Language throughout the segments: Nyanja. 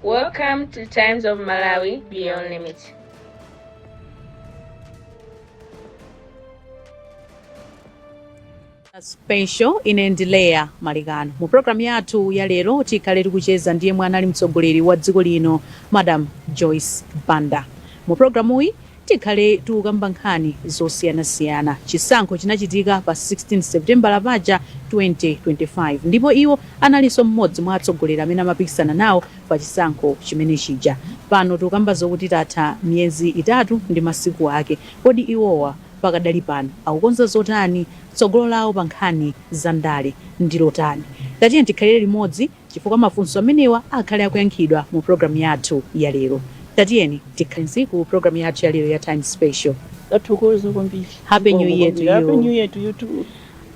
Welcome to Times of Malawi Beyond Limits. Special ine ndi Leya Malekano mu programu yathu ya lero tikhale tikucheza ndi yemwe anali mtsogoleri wa dziko lino Madam Joyce Banda mu programuyi Tikhale tikukamba nkhani zosiyanasiyana. Chisankho chinachitika pa 16 Sepitembala apaja 2025 ndipo iwo analinso mmodzi mwa atsogoleri amene amapikisana nawo pa chisankho chimene chija. Pano tikukamba zokuti tatha miyezi itatu ndi masiku ake. Kodi iwowa pakadali pano akukonza zotani? Tsogolo lawo pa nkhani za ndale ndi lotani? Tatiyeni tikhalire limodzi. Chifukwa mafunso amenewa akhale akuyankhidwa mu program yathu ya lero, tatiyeni tikhale limodzi mu program yathu ya lero ya Times Special. Tathokoza kwambiri. Happy New Year to you. Happy New Year to you too.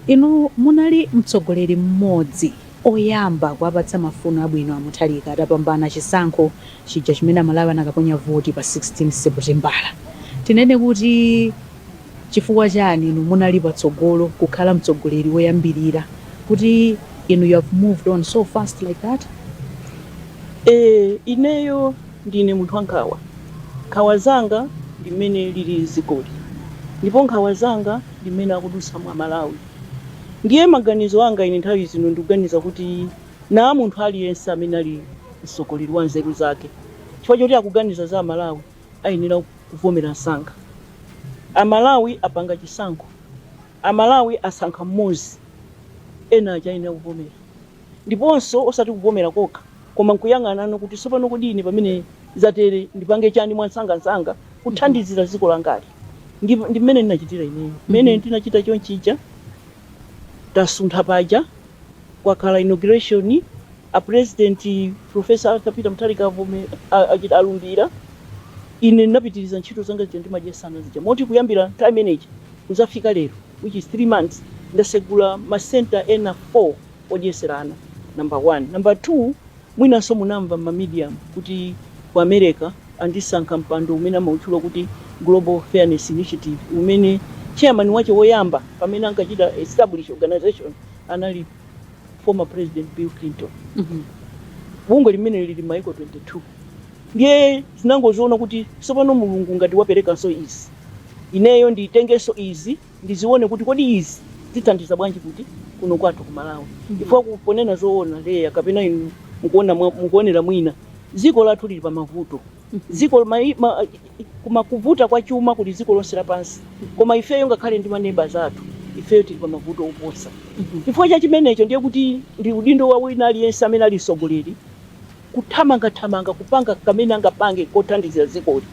Inu munali mtsogoleri mmodzi oyamba kuwapatsa mafuno abwino a Mutharika atapambana chisankho chija chimene Amalawi anakaponya voti pa 16 Seputembala. Tinene kuti. Chifukwa chani inu munali patsogolo kukhala mtsogoleri woyambirira kuti inu you have moved on so fast like that? Eee ineyo ndine munthu wa nkhawa, nkhawa zanga ndi mmene lili dzikoli ndipo nkhawa zanga ndi mmene akudutsamo a Malawi ndiye maganizo anga ine nthawi zonse ndikuganiza kuti naa munthu aliyense amene ali mtsogoleri wa nzeru zake chifukwa choti akuganiza za a Malawi ayenera kuvomera msanga. A Malawi apanga chisankho. A Malawi asankha m'modzi. Ena aja ayenera kuvomera. Ndiponso osati kuvomera kokha koma nkuyang'ana no kuti tsopano kodi ine pamene zatere ndipange chani mwansangansanga kuthandizira dziko langali. Ndi, ndi mmene ndinachitira ineyo. Mmene ndinachita chonchija tasuntha paja. kwakhala inauguration a president professor Arthur Peter Mutharika avome- achita alumbira ine ndinapitiriza ntchito zanga zija ndimadyetsa ana zija moti kuyambira nthawi imeneja kuzafika lero which is 3 months ndasegula ma center ena 4 odyesera ana number 1 number 2 mwinanso munamva mma media kuti ku America andisankha mpando umene amautchula kuti global fairness initiative umene chairman wache woyamba pamene ankachita establish organization anali former president Bill Clinton bungwe limeneli lili maiko 22 ndiye ndinangoziona kuti tsopano mulungu ngati waperekanso izi ineyo nditengenso izi ndizione kuti kodi izi zithandiza bwanji kuti kuno kwathu ku Malawi chifukwa ku- ponena zoona Leya kapena inu mukuona mwa- mukuonera mwina dziko lathu lili pa mavuto dziko ma, ma, kuma kuvuta kwa chuma kuli dziko lonse lapansi koma ifeyo ngakhale ndi maneba zathu ifeyo tili pa mavuto oposa chifukwa cha chimenecho ndiye kuti ndi udindo wa wina aliyense amene ali mtsogoleri kuthamangathamanga kupanga kamene angapange kothandizira dzikoli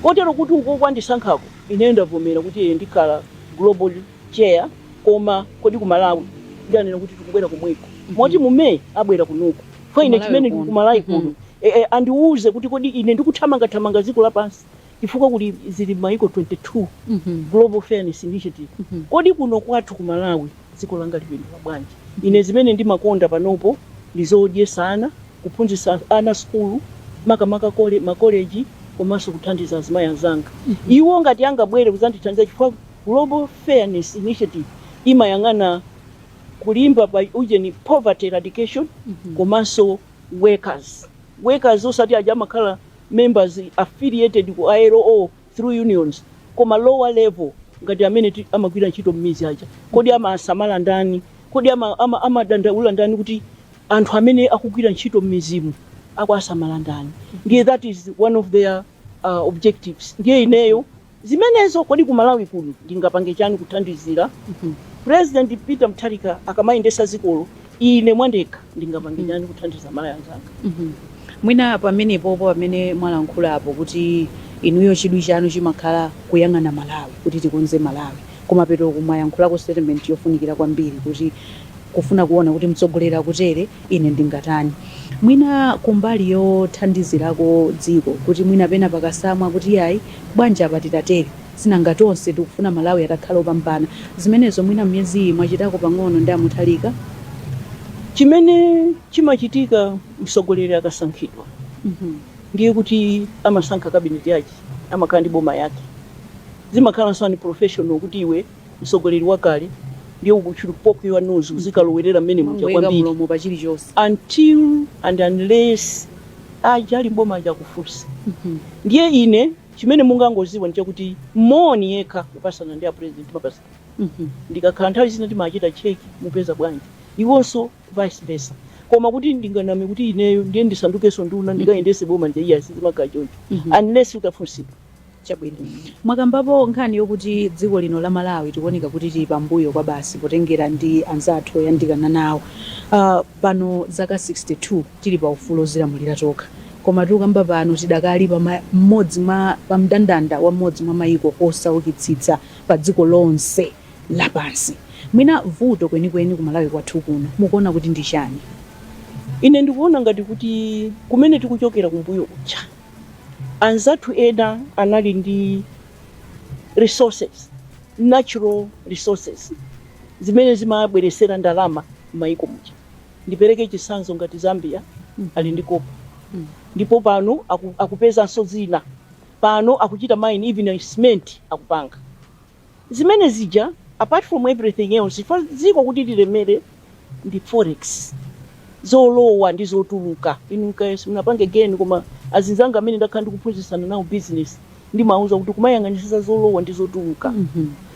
kotero kuti uko kwandisankhako ineyo ndavomera kuti ee ndikhala global chair koma kodi ku malawi ndinanena kuti tikubwera kumweko moti mu may abwera kunuku kwa ine chimene ndi ku Malawi kuno e e andiuze kuti kodi ine ndikuthamangathamanga dziko lapansi chifukwa kuli zili maiko 22, global fairness initiative kodi kuno kwathu ku malawi dziko langa lipindula bwanji ine zimene ndimakonda panopo ndi zodyesa ana kuphunzitsa ana sukulu makamaka kole makoleji komanso kuthandiza azimayi anzanga iwo ngati angabwere kudzandithandiza chifukwa global fairness initiative imayang'ana kwambiri pa ujeni poverty eradication komanso workers workers osati aja amakhala members affiliated ku ilo through unions koma lower level ngati amene ti- amagwira ntchito m'mizi aja kodi amawasamala ndani kodi ama- ama- amadandaula ndani kuti anthu amene akugwira ntchito m'mizimu akuwasamala ndani ndiye that is one of their uh, objectives ndiye ineyo Zimenezo kodi ku Malawi kuno ndingapange chani kuthandizira President Peter Mutharika akamayendetsa dzikolo ine mwandekha ndingapange chani kuthandiza aMalawi anzanga. Mwina pamenepopo pamene mwalankhulapo kuti inuyo chidwi chanu chimakhala kuyang'ana Malawi kuti tikonze Malawi, kumapetoku mwayankhulako statement yofunikira kwambiri kuti kufuna kuona kuti mtsogoleri akutere ine ndingatani mwina kumbali yothandizirako dziko kuti mwina pena pakatsamwa kuti iyayi bwanji apa titatere sinanga tonse tikufuna malawi atakhala opambana zimenezo mwina m'miyezi iyi mwachitako pang'ono ndi a Mutharika chimene chimachitika mtsogoleri akasankhidwa Mhm. ndiye kuti amasankha kabineti yake amakhala ndi boma yake zimakhala zaunprofessional kuti iwe msogoleri wakale ndiye uzichita poke your nose uzikalowerera mmene muja Ngoyika kwambiri mlomo pa chilichonse. until and unless aja ali m'boma aja akufunsa ndiye ine chimene mungangoziwa ndichakuti moni yekha kupasana ndi apresident timapatsana ndikakhala nthawi zina timachita cheki mupeza bwanji iwonso vice versa koma kuti ndinganame kuti ineyo ndiye ndisandukenso nduna ndikayendese boma ndiye iyayi sizimakhala choncho unless utafunsidwa Chabwino. Mwakambapo nkhani yokuti dziko lino la Malawi tikuoneka kuti tili pambuyo kwabasi potengera ndi anzathu oyandikana nawo. Uh, pano zaka 62 tili pa ufulu ozilamulira tokha. Koma tikukamba pano tidakali pa mmodzi mwa pa mndandanda wa mmodzi mwa maiko osaukitsitsa pa dziko lonse lapansi. Mwina vuto kwenikweni ku Malawi kwathu kuno mukuona kuti ndi chani? Ine ndikuona ngati kuti kumene tikuchokera kumbuyo kuja Anzathu ena anali ndi resources, natural resources, zimene zimabweretsera ndalama m'mayiko muja. Ndipereke chitsanzo ngati Zambia ali ndi copper ndipo pano akupezanso zina. Pano akuchita mine, even cement akupanga. zimene zija apart from everything else chifukwa dziko kuti lilemere ndi forex zolowa ndi zotuluka inu nkayesa munapanga geni koma azinzanga amene ndakhala ndikuphunzitsana nawo business ndimawuza kuti kumayang'anisisa zolowa ndi zotuluka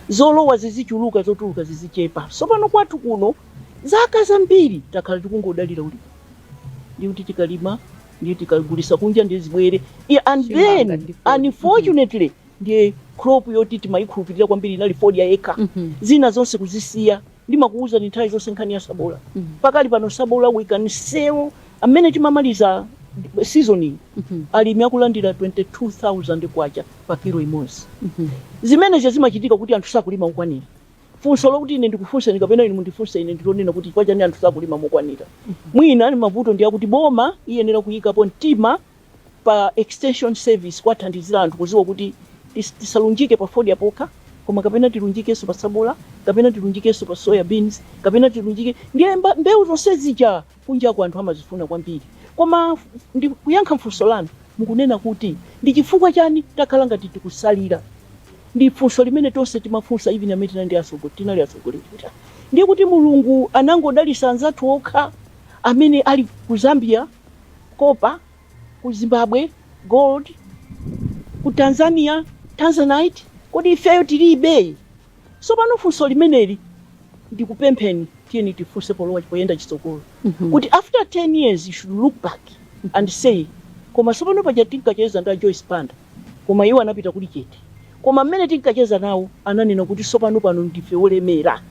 zolowa zizichuluka zotuluka zizichepa tsopano kwathu kuno zaka zambiri takhala tikungodalira ulimi ndi kuti tikalima ndi tikagulisa kunja ndi zibwere I- and Chimanga then ndi food. unfortunately ndiye crop yoti timayikhulupirira kwambiri inali fodya yekha Mhm. zina zonse kuzisiya ndimakuwuzani nthawi zonse nkhani ya sabola Mhm. pakali pano sabola we can sell amene timamaliza seasoning Mhm. alimi akulandira 22000 kwacha pa kilo imodzi Mhm. zimenezo zikuchitika kuti anthu sakulima mokwanira funso lokuti ine ndikufunseni kapena inu mundifunse ine ndilonena kuti kwachani anthu sakulima mokwanira mwina ali mavuto ndi akuti boma iyenera kuyikapo mtima pa extension service kuwathandizira anthu kuziwa kuti tis- tisalunjike pa fodya pokha koma kapena tilunjikenso pa sabola kapena tilunjikenso pa soya beans kapena tilunjike ndiye mba- mbewu zonse zija kunjako anthu amazifuna kwambiri koma f- ndi kuyankha funso lanu mukunena kuti ndi chifukwa chani takhala ngati tikusalira ndi funso limene tonse timafunsa even amene tinali ndi atsogo- tinali atsogoleri kuti ndiye kuti mulungu anangodalisa anzathu okha amene ali ku zambia copper ku zimbabwe gold ku tanzania tanzanite kodi ifeyo tilibe sopano funso limeneli ndikupempheni tiyeni tifunse polowa poyenda chitsogolo kuti after 10 years you should look back and say koma sopano paja tinkacheza ndi a Joyce Banda koma iwo anapita kuli chete koma mmene tinkacheza nawo ananena kuti sopano pano ndife olemera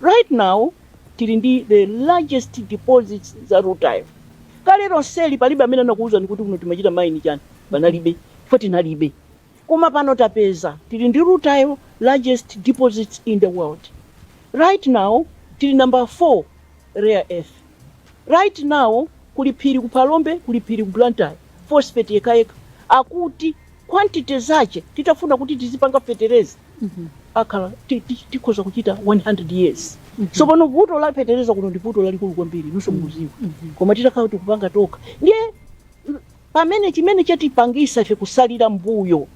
right now Tili ndi the largest deposits za rutile kalero lonseli palibe amene anakuuzani kuti kuno timachita mine chani panalibe chifukwa tinalibe koma pano tapeza tili ndi rutile largest deposits in the world right now tili number 4 rare earth right now kuli phiri ku phalombe kuli phiri ku blantyre phosphate yekhayekha akuti quantity zache titafuna kuti tizipanga fetereza akhala ti- ti- tikhoza kuchita 100 years tsopano vuto la fetereza kuno ndi vuto lalikulu kwambiri inunso mukuziwa koma titakhala tikupanga tokha ndiye mm, pamene chimene chatipangisa ife kusalira mbuyo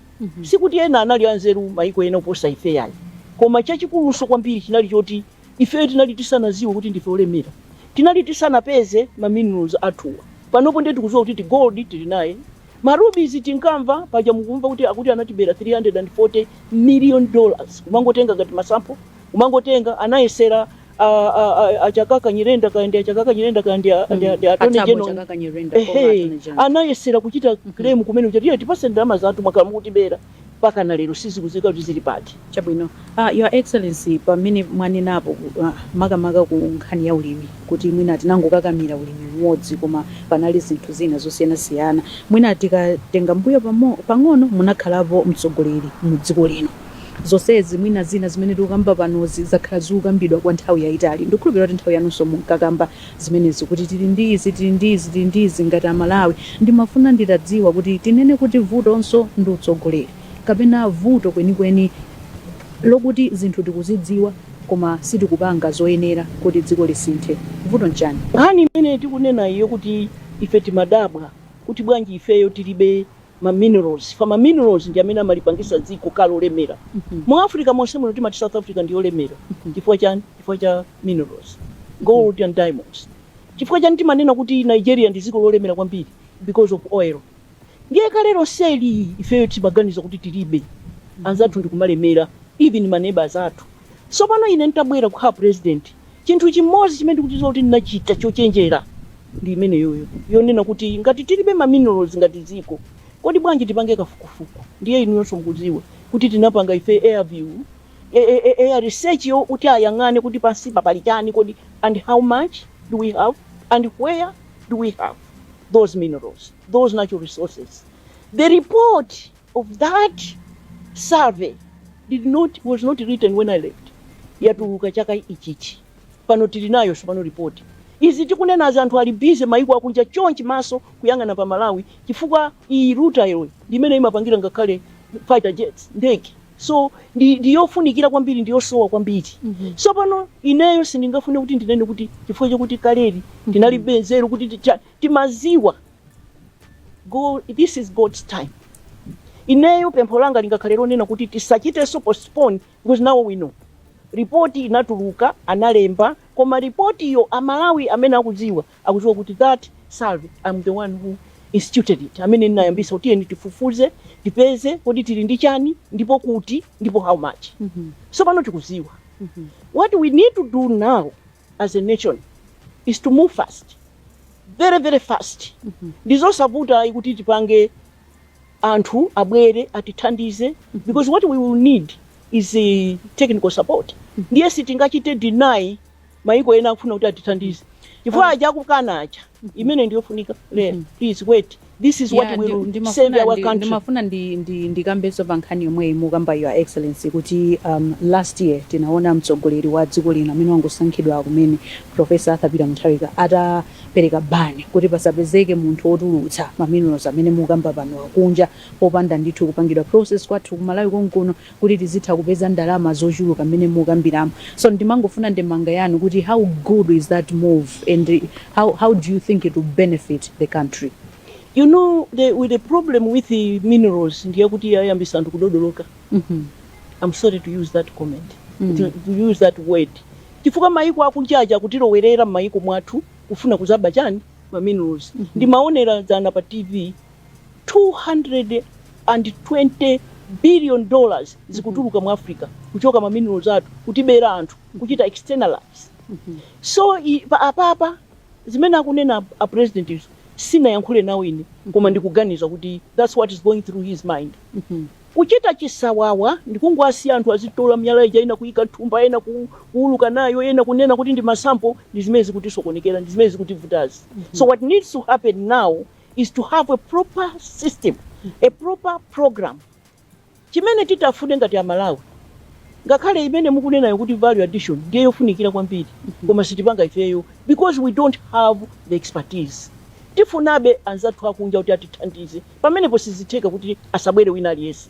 sikuti ena anali anzeru maiko ena oposa ife yayi koma chachikulunso kwambiri chinali choti ifeyo tinali tisanaziwe kuti ndife olemera tinali tisanapeze ma minerals athuwa panopo ndiye tikuziwa kuti ti gold tili naye Ma rubies tinkamva paja mukumva kuti akuti anatibera 340 million dollars kumangotenga ngati ma sample kumangotenga anayesera a, a, a, a Chakaka Nyirenda kaya ndi a Chakaka Nyirenda kaya ndi a, ndi a, ndi a Attorney Atabo General Chakaka Nyirenda former ehe Attorney General. anayesera kuchita claim kumene kuti tipatseni ndalama zathu mwakhala mukutibera mpakana lero sizikudziwika kuti zili pati. Chabwino uh, your excellency pamene mwanenapo uh, makamaka ku nkhani ya ulimi kuti mwina tinangokakamira ulimi umodzi koma panali zinthu zina zosiyanasiyana mwina tikatenga mbuyo pamo- pang'ono munakhalapo mtsogoleri mu dziko lino zonsezi mwina zina zimene tikukamba panozi zakhala zikukambidwa kwa nthawi yayitali ndikukhulupirira kuti nthawi yanuyonso munkakamba zimenezi kuti tili ndi izi tili ndi izi tili ndi izi ngati amalawi ndimafuna nditadziwa kuti tinene kuti vutonso ndi utsogoleri kapena vuto kwenikweni lokuti zinthu tikuzidziwa koma sitikupanga zoyenera kuti dziko lisinthe vuto nchani? Nkhani imene tikunenayi yokuti ife timadabwa kuti bwanji ifeyo tilibe ma minerals chifukwa ma minerals ndi amene amalipangisa dziko kukhala lolemera mu Africa monse muno timati South Africa ndi yolemera chifukwa chani chifukwa cha minerals gold and diamonds chifukwa chani timanena kuti Nigeria ndi dziko lolemera kwambiri because of oil ndiye kale lonseli ifeyo timaganiza kuti tilibe anzathu ndikumalemera even ma neighbours athu Tsopano, ine n'tabwera kukhala purezidenti, chinthu chimodzi chimene ndikuchidziwa kuti ndinachita chochenjera ndi imeneyoyo, yonena kuti ngati tilibe ma minerals ngati dziko, kodi bwanji tipange kafukufuku? Ndiye inuyonso mukudziwa kuti tinapanga ife aerial, eh, eh, eh, eh, research yoti ayang'ane kuti pansipa pali chani kodi, and how much do we have, and where do we have those minerals, those natural resources. The report. of that survey did not was not written when I left. Yatuluka chaka ichichi. Pano tili nayo sopano report. Izi tikunenazi anthu ali busy maiko akunja chonchi maso kuyang'ana pa Malawi chifukwa iyi rutile iyi ndi imene imapangira ngakhale fighter jets ndege. So ndi ndi yofunikira kwambiri ndi yosowa kwambiri. Sopano ineyo sindingafune kuti ndinene kuti chifukwa chakuti kaleli ndinalibe nzeru kuti ticha- timaziwa Go, this is God's time. Ineyo pempho langa lingakhale lonena kuti tisachitenso postpone because now we know. Ripoti inatuluka analemba koma ripotiyo amalawi amene akudziwa akudziwa kuti that survey I'm the one who instituted it amene ndinayambisa kuti tiyeni tifufuze tipeze kodi tili ndi chani ndipo kuti ndipo how much. Mm -hmm. Sopano tikudziwa. Mm -hmm. What we need to do now as a nation is to move fast very very fast ndizosavuta ayi kuti tipange anthu abwere atithandize because what we will need is eh, technical support ndiye sitingachite deny maiko ena akufuna kuti atithandize chifukwa aja akukana aja imene ndiyofunika lero please wait This is what Yeah, ndi- will save ndimafuna our ndi- country. ndimafuna ndi- ndi- ndikambenso pa nkhani yomweyi mukamba your excellency kuti um, last year tinaona mtsogoleri wa dziko lino amene wangosankhidwa kumene profesa arthur peter mutharika atapereka ban kuti pasapezeke munthu wotulutsa maminerals amene mukamba pano akunja popanda ndithu kupangidwa process kwathu kumalawi konkuno kuti tizitha kupeza ndalama zochuluka mmene mukambiramo so ndimangofuna ndemanga yanu kuti how good is that move and how, how do you think it will benefit the country? You know, the, with the problem with the minerals ndiye kuti yayambisa anthu kudodoloka. Mhm. I'm sorry to use that comment. Mm. To, to use that word. Chifukwa maiko akunjaja kutilowerera m'maiko mwathu kufuna kuzaba chani ma minerals. Ndimaonera dzana pa TV 220 billion dollars zikutuluka mu africa kuchoka ma minerals athu kutibera anthu kuchita externalize so i- pa- apapa zimene akunena a president izo sindinayankhule nawo ine koma ndikuganiza kuti that's what is going through his mind kuchita chisawawa ndikungowasiya anthu azitola miyala ija ena kuyika thumba ena ku- kuuluka nayo ena kunena kuti ndi masampo ndi zimene zikutisokonekera ndi zimene zikutivutazi so what needs to happen now is to have a proper system, a proper program. Chimene titafune ngati Amalawi, ngakhale imene mukunenayo kuti value addition ndiye yofunikira kwambiri, koma sitipanga ifeyo because we don't have the expertise. Tifunabe anzathu akunja kuti atithandize, pamenepo sizitheka kuti asabwere wina aliyense.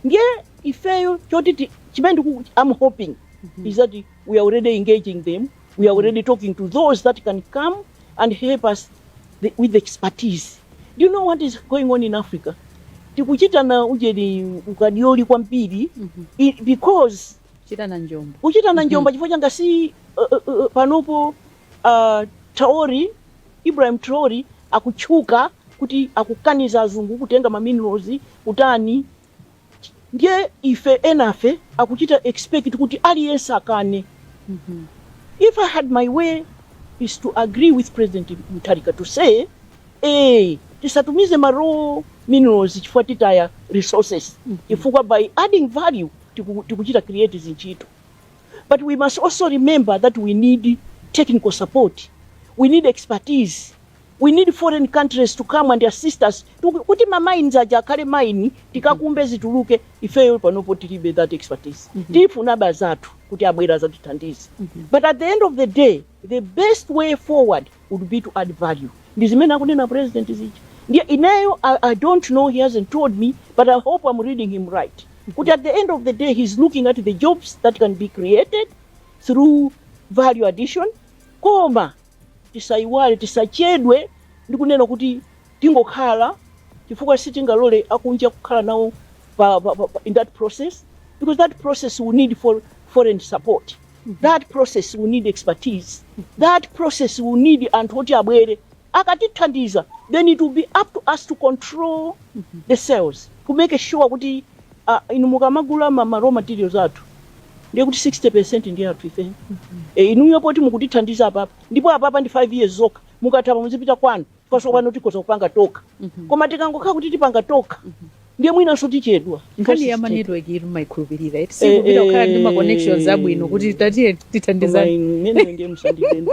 Ndiye ifeyo choti ti- chimene ndiku- I'm hoping is that we are already engaging them We are already talking to those that can come and help us the, with the expertise. Do you know what is going on in Africa? Tikuchita na ujeni ukadioli kwambiri i- because chita na njomba kuchita na njomba chifukwa changa si uh, uh, uh, panopo uh, Traore Ibrahim Traore akutchuka kuti akukaniza azungu kutenga ma minerals kutani Ndiye ife enafe akuchita expect kuti aliyense akane if I had my way is to agree with President Mutharika to say ee tisatumize ma raw minerals chifukwa titaya resources chifukwa by adding value tiku- tikuchita create zintchito but we must also remember that we need technical support we need expertise We need foreign countries to come and assist us to kuti ma mines aja akhale mine tikakumbe zituluke ifeyo panopo tilibe that expertise tifuna bazathu kuti abwera azatithandize but at the end of the day the best way forward would be to add value ndi zimene akunena president zija ndiye ineyo I, i don't know he hasn't told me but i hope i'm reading him right kuti at the end of the day he's looking at the jobs that can be created through value addition koma Tisaiwale, tisachedwe ndi kunena kuti tingokhala chifukwa sitingalole akunja kukhala nawo pa, pa, pa, in that process because that process will need for foreign support that process will need expertise that process will need anthu oti abwere akatithandiza then it will be up to us to control the sales to make sure kuti a inu mukamagula ma, ma raw materials athu ndiye kuti 60% ndi athu ife e, inuyo poti mukutithandiza apapa ndipo apapa ndi 5 years zokha ikatha apa muzipita kwanu chifukwa pano tikhoza kupanga tokha koma tikangokhala kuti tipanga tokha ndiye mwinanso tichedwa nkhani ya manetwork ija maikhulupirira iti Eh, sikupita kukhala ndi eh. maconnections abwino kuti tatiye tithandizani ndiye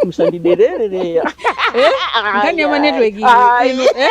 musaderere nkhani ya manetwork iri inu, eh?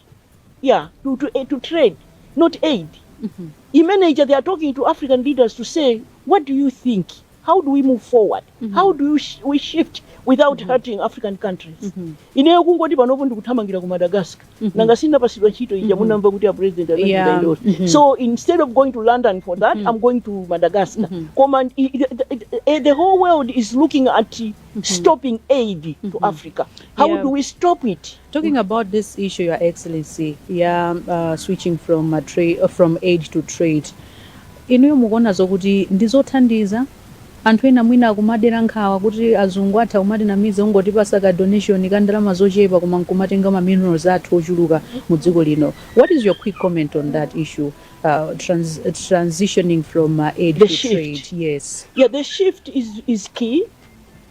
yeah to, to, eh, to trade not aid imene ija they are talking to african leaders to say what do you think how do we move forward how do you sh we shift without hurting african countries ineyo kungoti panopo ndikuthamangira ku madagascar nanga sinapasidwa ntchito ija munamva kuti a president Yeah. anachitaendose so instead of going to london for that i'm going to madagascar koma i- i- i- the whole world is looking at stopping aid to africa how Yeah. do we stop it Talking about this issue, Your Excellency, ya uh, switching from, a tra- uh, from aid to trade, inuyo mukuona zokuti ndi zothandiza anthu ena mwina akumadera nkhawa kuti azungu atha kumatinamiza kungotipatsa ka donation ka ndalama zochepa koma nkumatenga ma minerals athu ochuluka mu dziko lino. What is your quick comment on that issue, uh, trans transitioning from uh, aid to The shift. trade? Yes. Yeah, the shift is, is key.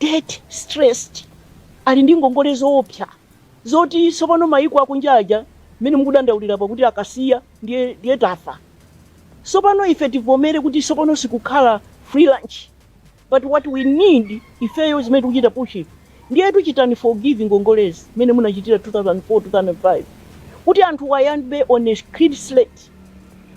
Debt stressed, ali ndi ngongole zoopsa zoti tsopano mayiko akunja aja mmene mukudandaulira apa kuti akasiya ndiye ndiye tafa. Tsopano ife tivomere kuti tsopano sikukhala free lunch but what we need ifeyo zimene tikuchita push ndiyetu muchite forgive ngongolezi mmene munachitira 2004, 2005 kuti anthuwa ayambe on a clean slate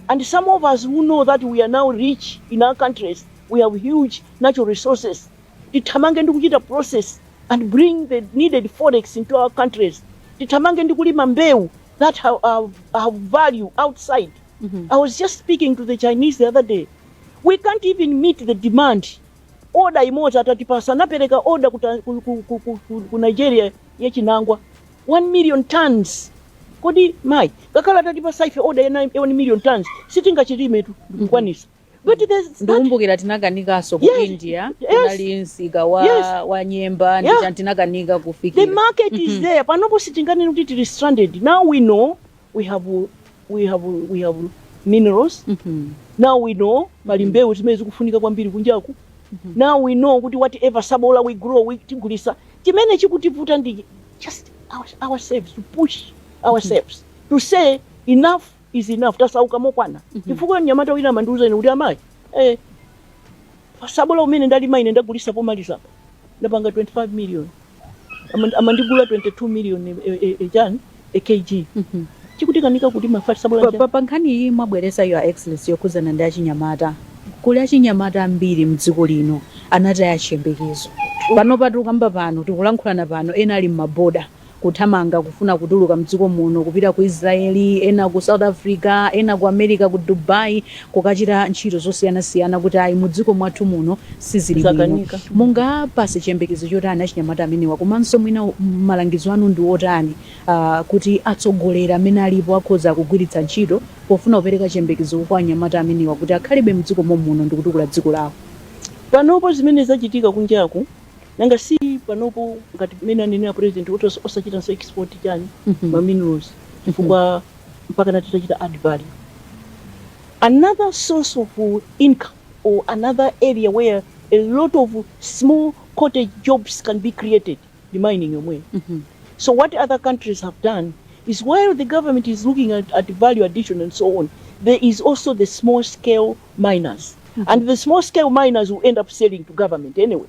and some of us who know that we are now rich in our countries. we have huge natural resources tithamange ndi kuchita process and bring the needed forex into our countries tithamange ndi kulima mbewu that have, have, have value outside i was just speaking to the chinese the other day we can't even meet the demand oda imodzi atatipasa anapereka oda ku, ta- ku, ku, ku, ku, ku, ku nigeria yachinangwa 1 million tons kodi mayi ngakhale atatipasa ife oda yena 1 million tons sitingachilime tu ndikukwanisa But there's that, ndikumbukira tinakanikanso ku Yes, India yes. kunali msika wa, Yes. wa nyemba Yeah. tinakanika the kufikira market is there. Panopo sitinganene kuti tili stranded. Now we know we have we have we have minerals. Mhm. Now we know pali mbewu zimene zikufunika kwambiri kunjaku. Now we know kuti whatever sabola we grow we tigulisa. Chimene chikutivuta ndi just our, ourselves to push ourselves to say enough is enough tasauka mokwana chifukwa mnyamata wina amandiuza ine kuti amayi eh, pasabola umene ndalima ine ndagulisa pomaliza apa ndapanga 25 million Aman- amandigula 22 million eh, eh, eh, pa kg chikutikanika kuti tidzale sabola Pa- cha- pa- pa nkhani iyi mwabwereza Your Excellency yokhuzana ndi achinyamata kuli achinyamata ambiri mdziko lino anataya chiyembekezo pano pakukamba pano tikulankhulana pano ena ali m'maboda kuthamanga kufuna kutuluka mdziko muno kupita ku Israel, ena ku South Africa, ena ku America ku Dubai kukachita ntchito zosiyana siyana kuti ayi mu dziko mwathu muno sizili bwino. Zakanika. Mungawapase chiyembekezo chotani achinyamata amenewa komanso mwina malangizo anu ndi otani ah, kuti atsogoleri amene alipo akhoza kugwiritsa ntchito pofuna kupereka chiyembekezo kwa anyamata amenewa kuti akhalebe mdziko mommuno ndikutukula dziko lawo? Panopo zimene zachitika kunjaku Nanga si panopo ngati mmene anenera president kuti os- osachitanso export chani ma minerals chifukwa mpaka na titachita add value another source of uh, income or another area where a lot of small cottage jobs can be created ndi mining yomweyo so what other countries have done is while the government is looking at, at value addition and so on there is also the small scale miners and the small scale miners will end up selling to government anyway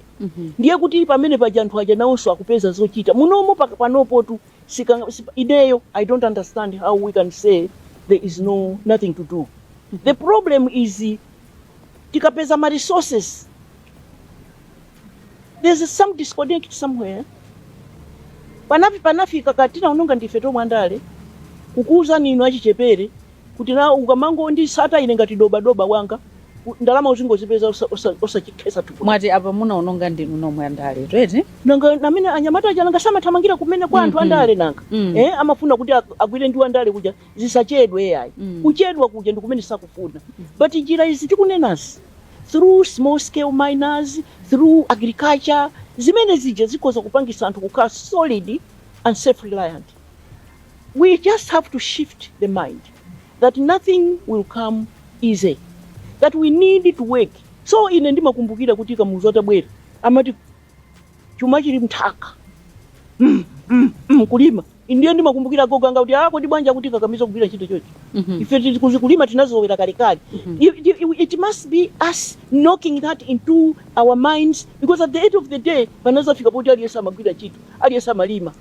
ndiye kuti pamene paja anthu aja nawonso akupeza zochita munomo paka- panopotu sikanga- sipa- ineyo i don't understand how we can say there is no nothing to do the problem is tikapeza ma resources There is some disconnect somewhere. Penapake panafika kuti tinaononga ndife tomwe andale kukuuzani inu achichepere kuti na ukamangonditsata ine ngati dobadoba wanga u- ndalama uzingozipeza osa- osa- osachikhetsa thukuta mwati apa munaononga ndinu nomwe andale ndiyetu nanga ndi amene anyamata aja nanga samathamangira kumene kwa anthu Mhm. andale nanga Mm. eh, amafuna kuti ag- agwire ndi andale kuja zisachedwe yayi Mm. kuchedwa kuja ndikumene sakufuna but njira izi tikunenazi through small scale miners, through agriculture, zimene zija zikhoza kupangisa anthu kukhala solid and self reliant. We just have to shift the mind that nothing will come easy, that we need to work. So ine ndimakumbukira kuti Kamuzu atabwera amati chuma chili mnthaka mm, mm, mm, kulima Ndiye ndimakumbukira agogo anga kuti, ah, kodi bwanji akutikakamiza kugwira ntchito chonchi? Mhm. Ife kuli- kuzi- kulima tinazolowera kalekale. Mhm. It, it, it must be us knocking that into our minds because at the end of the day panazafika poti aliyense amagwira ntchito, aliyense amalima.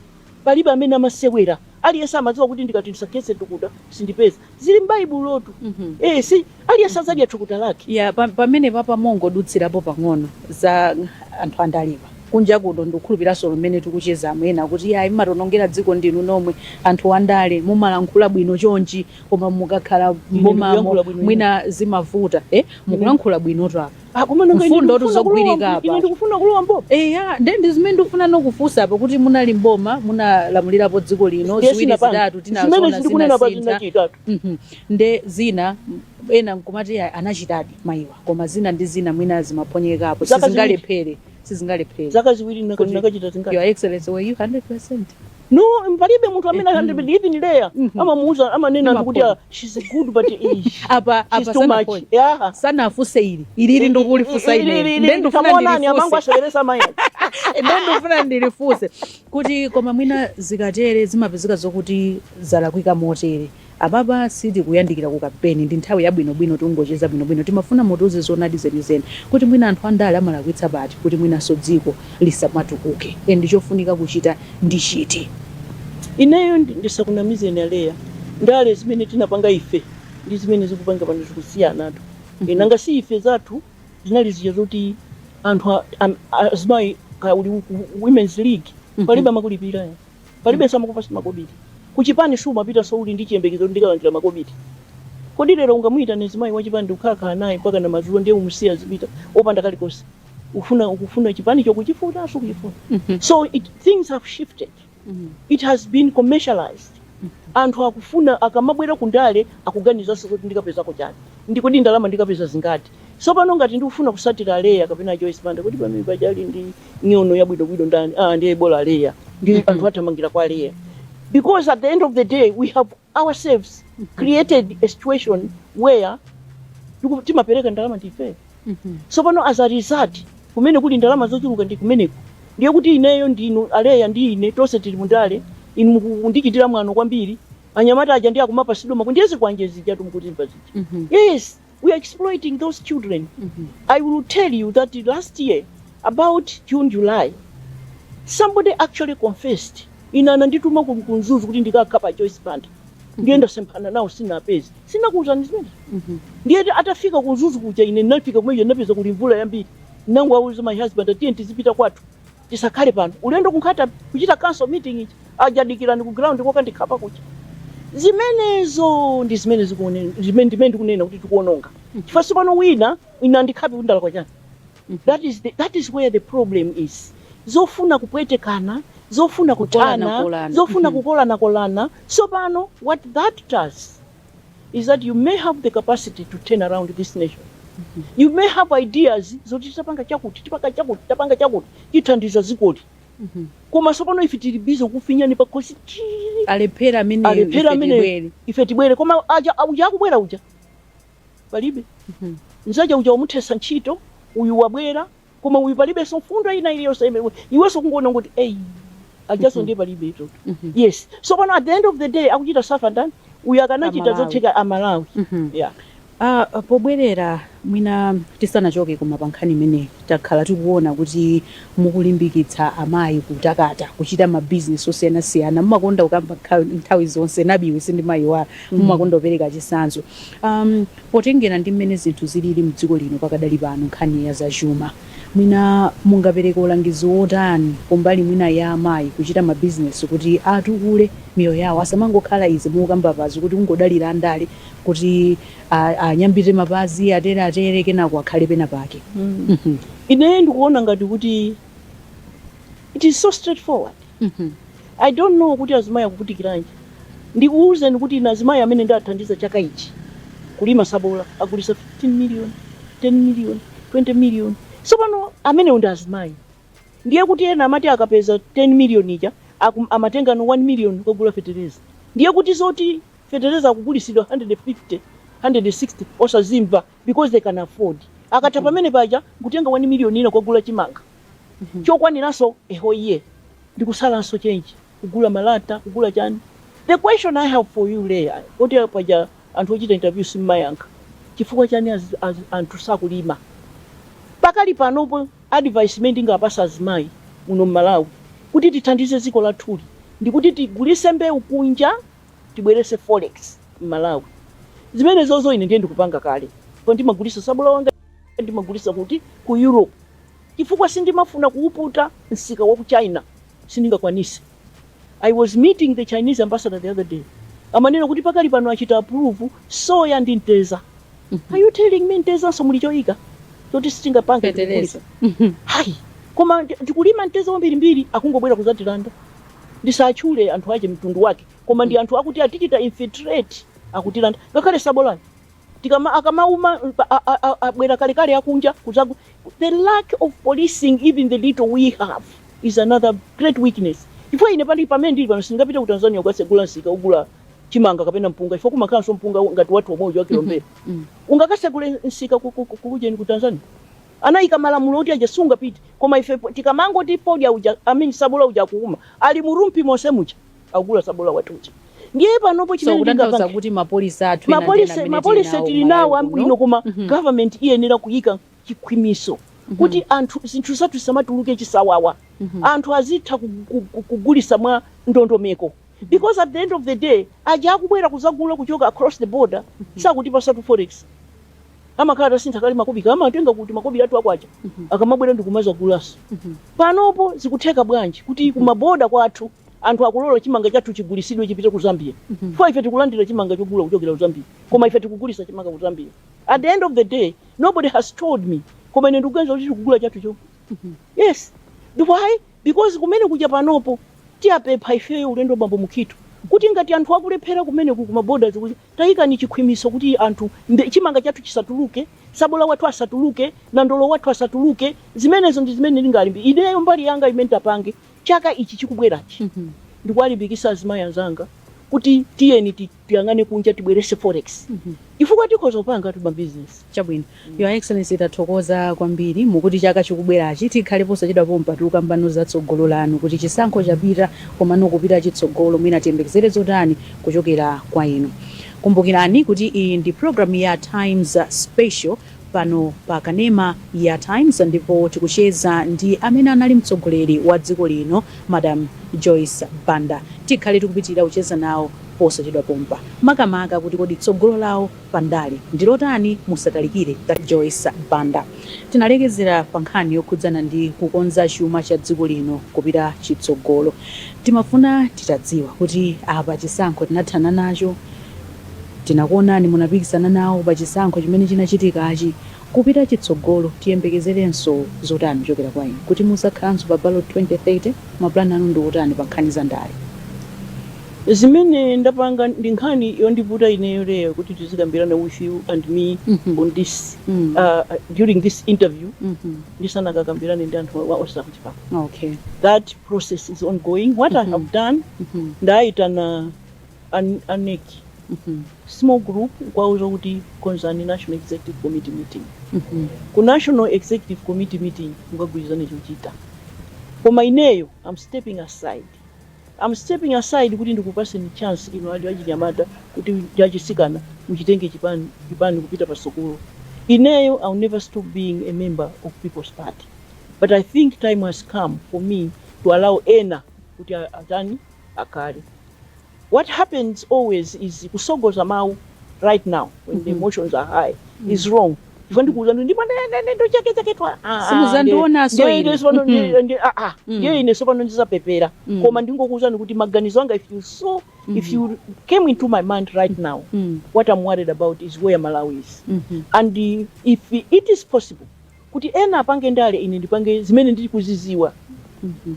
Palibe amene amasewera. Aliyense amadziwa kuti ndikati ndisakhetse thukuta sindipeza. zili m'baibulotu Mhm. eh, eti aliyense adzadya thukuta lake ya pa- pamene paja mongodutsirapo pang'ono za anthu andalewa kunja kuno ndikukhulupiranso mmene tikuchezamu ena akuti ayi mmatonongera dziko ndinu nomwe anthu andale mumalankhula bwino chonchi koma mukakhala ndikuyankhula m'bomamo bwino mwina zimavuta eh? mukulankhula bwinotu apa Ah, koma nanga ine Mfundo ndikufuna zogwirika kulowa mbo- apa. ine ndikufuna kulowa mboma eya nde ndi zimene ndikufuna ndikufunseni apo kuti munali mboma munalamulirapo dziko lino Ndiye ziwiri sinapanga. zitatu zimene tinaziona sindikunena pa zinasintha zinachitika Mhm. nde zina m- ena nkumati "Ayi, anachitadi mayiwa koma zina ndi zina mwina zimaphonyekapo Zaka ziwiri. sizingalephere sizingalephere zaka ziwiri Kuti- nakachita zingati your excellency were you 100 no palibe munthu amene mm. even there mm -hmm. amamuuza amanena anthu kuti ah, she's good but eh, apa apa sana- yeah. sanafunse ili ili ili ndikulifunsa ili ndiye ndifuna nani amangu asheresa maya ndiye ndifuna ndilifunse kuti koma mwina zikatere zimapezeka zokuti zalakwika motere Apapa sitikuyandikira ku kampeni, ndi nthawi yabwinobwino tikungocheza bwinobwino. Timafuna mutiuze zoonadi zenizeni kuti mwina anthu andale amalakwitsa pati kuti mwinanso dziko lisamatukuke and ndi chofunika kuchita ndi chiti. Ineyo ndisakunamizeni a Leah, ndale zimene tinapanga ife ndi zimene zikupangika pano zikusiyanatu. Eeh, nanga si ife zathu zinali zija zoti anthu a, a, azimayi kaya uli ku women's league palibe amakulipira eti. palibenso amakupasa makobidi kuchipani siumapita so uli ndi chiyembekezo kuti ndikalandira makobidi kodi lero ungamuyitane mzimayi wachipani ndikukhalakhala naye mpaka na madzulo ndiye umusiye azipita opanda kalikonse ufuna ukufuna chipani chokuchifuna sukuchifuna so it, things have shifted it has been commercialized anthu akufuna akamabwera kundale akuganizanso kuti ndikapezako chani ndikodi ndalama ndikapeza zingati Sopano ngati ndikufuna kusatira a Leah kapena Joyce Banda kodi pamene paja ali ndi nyono yabwino bwino ndani? Ah, ndiye bola a Leah. Ndi anthu athamangira kwa Leah. Because at the end of the day we have ourselves created a situation where tiku- timapereka ndalama ndife. Sopano as a result kumene kuli ndalama zochuluka ndi kumeneko. Ndiye kuti ineyo ndi inu a Leah ndi ine tonse tili mundale inu mukundichitira mwano kwambiri. Anyamata aja ndi akumapasidwa ma K ndiye zikwanje zija mukuzimva zija. Yes, we are exploiting those children i will tell you that last year about june july somebody actually confessed ine anandituma ku ku mzuzu kuti ndikakhape joyce banda ndiye ndasemphana nawo sinapeze sinakuuzani zimene ndiye ti- atafika ku mzuzu kuja ine ndinafika kumene ndinapeza kuli mvula yambiri nangowauza my husband ah tiyeni tizipita kwathu Tisakhale pano ulendo ku Nkhata kuchita council meeting ija, aja adikira ku ground kokandikhapa kuja. Zimenezo ndi zimene zikuoneni, zimene ndimene ndikunena kuti tikuononga. Chifukwa sopano wina andikhape kuti ndalakwa chani. That is the, that is where the problem is. Zofuna kupwetekana, zofuna kuthana, Kukolanakolana. zofuna kukolanakolana. Sopano what that does is that you may have the capacity to turn around this nation you may have ideas zoti tipanga chakuti tipanga chakuti tipanga chakuti tithandiza dzikoli koma sopano ife tili bize kufinyana pakhosi alephere amene Alephera ife amene- tibwere. ife tibwere koma ah uja akubwera uja palibe Mhm. nzake uja wamuthesa ntchito uyu wabwera koma uyu palibenso mfundo ina iliyonse imene iwenso kungoona kuti eyi ujanso ndiye palibetu yes so pano at the end of the day akuchita safa ndani uyu akanachita Amalawi. zotheka amalawi Mhm. yeah. Ah, pobwerera mwina tisanachoke koma pa nkhani imeneyi takhala tikuona kuti mukulimbikitsa amayi kutakata kuchita mabizinesi osiyanasiyana mumakonda kukamba nkha- nthawi zonse nabiwe sindimayiwala mumakonda kupereka chitsanzo um, Potengera ndi mmene zinthu zilili mdziko lino pakadali pano nkhani ya za chuma, mwina mungapereke ulangizo wotani kumbali mwina ya amayi kuchita ma bizinesi kuti atukule miyoyo yawo asamangokhala izi mukukambapazi kuti kungodalira andale kuti anyambite mapazi atere atere kenako akhale pena pake mmh. Ine ndikuona ngati kuti it is so straight forward mmh. I don't know kuti azimayi akuvutikilanji ndikuuzeni kuti ine azimayi amene ndaathandiza chaka ichi kulima sabola agulisa 15 million 10 million 20 million sopano amenewo ndi azimayi ndiye kuti ena amati akapeza 10 million ija akum, amatengano 1 million kogula fetereza ndiye kuti zoti fetereza akugulisidwa 150 160 osazimva because they can afford akatha pamene paja nkutenga 1 million ina kogula chimanga chokwaniranso a whole year ndikusalanso change kugula malata kugula chani the question i have for you lea poti paja anthu ochita interview simmayankha chifukwa chani az, az, anthu sakulima pakali panopo advice imene ndingapasa azimayi muno mmalawi kuti tithandize dziko lathuli ndikuti tigulise mbewu kunja tibwerese forex mmalawi zimenezozo ine ndiye ndikupanga kale ndipo ndimagulisa sabola wanga ndimagulisa kuti ku europe chifukwa sindimafuna kuwuputa msika wa ku China sindingakwanise. I was meeting the Chinese ambassador the other day amanena kuti pakali pano achita approve soya ndi mteza. Are you telling me mtezanso muli choyika choti sitingapange Feteleza. tikugulitsa? Hayi. Koma ndi- ndikulima mteza wambirimbiri akungobwera kuzatilanda. Ndisatchule anthu ache mtundu wake koma ndi anthu akuti atichita infiltrate akutilanda ngakhale sabolani. tikama akamauma abwera kalekale akunja kuzagu the lack of policing even the little we have is another great weakness chifukwa ine pali pamene ndili pano sindingapite ku tanzania kukasegula msika ogula chimanga kapena mpunga chifukwa kumakhalanso mpunga ngati wathu omwe uja wakilombera ungakasegule msika ku- ku- ku- kujeni ku tanzania anayika malamulo oti aja sungapite koma ife po- tikamangoti podya uja amene sabola uja akuuma ali mu rumpi monse muja akugula sabola wathu uja ndiye panopo chimene ndingauze kuti mapolisi athu mapolisi mapolisi tili nawo ambwino koma mm -hmm. government iyenera kuyika chikhwimiso mhm. kuti mm -hmm. anthu zinthu zathu zisamatuluke chisawawa mm -hmm. anthu azitha kugulisa mwa ndondomeko mhm. because at the end of the day aja akubwera kuzagula kuchoka across the border mm -hmm. sakutipasatu forex amakhala atasintha kale makobika amatenga kuti makobika athu akwacha mm -hmm. akamabwera ndikumazagulaso mm -hmm. panopo zikutheka bwanji kuti kumaboda kwathu Anthu akulola chimanga chathu chigulisidwe chipite ku Zambia chifukwa ife tikulandira chimanga chogula kuchokera ku Zambia koma ife tikugulisa chimanga ku Zambia at the end of the day nobody has told me koma ine ndikuganiza kuti tikugula chathu chomwe yes why because kumene kuja panopo tiwapempha ifeyo ulendo bambo Mukhitho kuti ngati anthu akulephera kumene ku ma borders kuja ayike chikhwimiso kuti anthu mbe- chimanga chathu chisatuluke sabola wathu asatuluke nandolo wathu asatuluke zimenezo ndi zimene ndingalimbe ineyo mbali yanga imene tapange chaka ichi chikubwerachi mm -hmm. ndikuwalimbikisa azimayi anzanga kuti tiyeni tiyang'ane kunja tibwerese forex mm -hmm. chifukwa tikhoza kupanga timabizinesi chabwino mm. your excellency tathokoza kwambiri mukuti chaka chikubwerachi tikhale posachedwa pompa tikukambano za tsogolo lanu kuti chisankho chapita komano kupita chitsogolo mwina tiyembekezere zotani kuchokera kwa inu kumbukirani kuti iyi ndi programu ya times special pano pa kanema ya Times ndipo tikucheza ndi amene anali mtsogoleri wa dziko lino Madam Joyce Banda. Tikhale tikupitiriza kucheza nawo posachedwa pompa makamaka kuti kodi tsogolo lawo pa ndale ndi lotani? Musatalikire Joyce Banda. Tinalekezera pa nkhani yokhudzana ndi kukonza chuma cha dziko lino kupita chitsogolo. Timafuna titadziwa kuti apa chisankho tinathana nacho, Tinakuonani munapikisana nawo pa chisankho chimene chinachitikachi. Kupita chitsogolo tiyembekezerenso zotani kuchokera kwa inu? Kuti muzakhalanso pa ballot 2030? Ma plan anu ndi otani pa nkhani za ndale? Zimene ndapanga ndi nkhani yondivuta ineyo lero kuti tizikambirana with you and me on this during this interview ndisanakakambirane ndi anthu onse akuchipani. That process is ongoing. What I have done, ndaitana. a nec small group nkuwauza kuti konzani national executive committee meeting. Ku national executive committee meeting mukagwirizane chochita. Koma ineyo am stepping aside. Am stepping aside kuti ndikupaseni chance inu achinyamata ndi achitsikana muchitenge chipani kupita patsogolo. Ineyo I'll never stop being a member of People's Party but I think time has come for me to allow ena kuti atani? akale. What happens always is kusogoza mau right now when the emotions are high is wrong chifukwa ndikuuza ndi ndipo ne- ne- ne- ndo chake chake twa ah, ah, Simuzandionaso ndiye- ndiye ine. sopano ndiye- ndiye- ah, ah, ndiye ine sopano ndizapepera koma ndingokuuzani kuti maganizo anga if you saw if you came into my mind right now what i'm worried about is where malawi is and uh, if it is possible Kuti ena apange ndale ine ndipange zimene ndikuziziwa